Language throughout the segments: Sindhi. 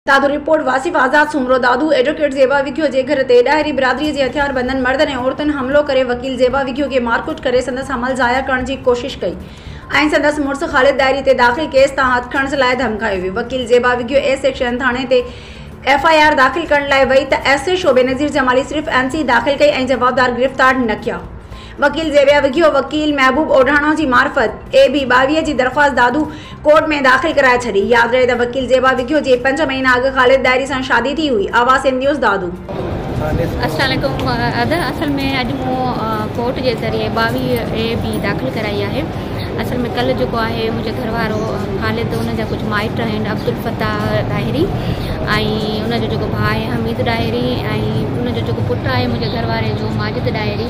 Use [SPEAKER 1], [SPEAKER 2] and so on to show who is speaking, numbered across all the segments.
[SPEAKER 1] دادو رپورٽ، واصف آزاد سومرو دادو ايڊووڪيٽ زيبا وگهيو جي گهر تي ڏاهري برادري جي هٿياربندن مردن ۽ عورتن حملو ڪري وڪيل زيبا وگهيو کي مارڪٽ ڪري سندس حمل ضايع ڪرڻ جي ڪوشش ڪئي ۽ سندس مڙس خالد ڏاهري تي داخل ڪيس تان هٿ کڻڻ لاء ڌمڪايو ويو وڪيل زيبا وگهيو اي سيڪشن ٿاڻي تي ايف آء آر داخل ڪرڻ لاء وئي ته S H O Benazir Jamali صرف اين سي داخل ڪئي ۽ جوابدار گرفتار نه ڪيا وڪيل زيبيا وگهيو وڪيل محبوب اوڍاڻو جي معرفت اي بي ٻاويهه جي درخواست دادو ڪورٽ ۾ داخل ڪرائي ڇڏي ياد رهي ته وڪيل زيبا وگهيو جي پنج مهينا اڳ خالد ڏاهري سان شادي ٿي هئي آواز سنڌنيوز دادو. السلام
[SPEAKER 2] عليڪم ادا اصل ۾ اڄ مون ڪورٽ جي ذريعي ٻاويهه اي بي داخل ڪرائي آهي اصل ۾ ڪل جيڪو آهي منهنجو گهر وارو خالد ان جا ڪجهه مائٽ آهن عبدالفتاح ڏاهري ۽ ان جو جيڪو ڀاء آهي حميد ڏاهري ۽ ان جو جيڪو پٽ آهي منهنجي گهر واري جو ماجد ڏاهري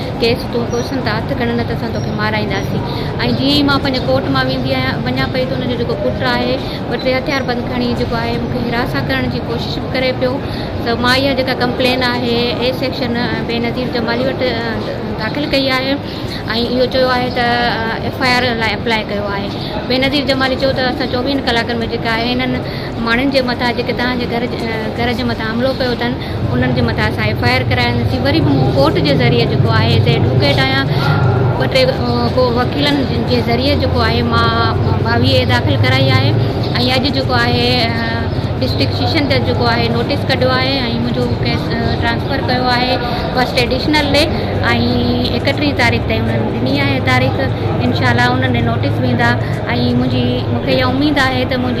[SPEAKER 2] کيس تون ڪوسن ته هٿ کڻ نه ته اسان توکي مارائينداسين ۽ جيئن ئي مان پنهنجي ڪوٽ مان ويندي آهيان وڃان پئي ته ان جو جيڪو پٽ آهي ٻه ٽي هٿيار بند کڻي جيڪو آهي مون کي هراسان ڪرڻ جي ڪوشش به ڪري پيو ته مان اها جيڪا ڪمپلين آهي اي سيڪشن بينظير جمالي وٽ داخل ڪئي آهي ۽ اهو چيو آهي ته ايف آء آر لاء اپلاء ڪيو آهي بينظير جمالي چيو ته اسان چوويهن ڪلاڪن ۾ جيڪا آهي هنن ماڻهن جي مٿان جيڪي توهان جي گهر گهر جي مٿان حملو ڪيو اٿن انهن جي مٿان اسان ايف آء آر ڪرايون ٿي وري به مون ڪورٽ جي ذريعي جيڪو آهي هتي ايڊووڪيٽ آهيان ٻه ٽي ڪو وڪيلن جي ذريعي جيڪو آهي مان ٻاويهه داخل ڪرائي آهي ۽ اڄ جيڪو آهي ڊسٽرڪٽ سيشن جج جيڪو آهي نوٽيس ڪڍيو آهي ۽ منهنجو ڪيس ٽرانسفر ڪيو آهي فرسٽ ايڊيشنل ڏي ۽ اڪٽيهه تاريخ تائين انهن ڏني آهي تاريخ انشاء الله انهن ڏي نوٽيس ويندا ۽ منهنجي مونکي اها اميد آهي ته منهنجي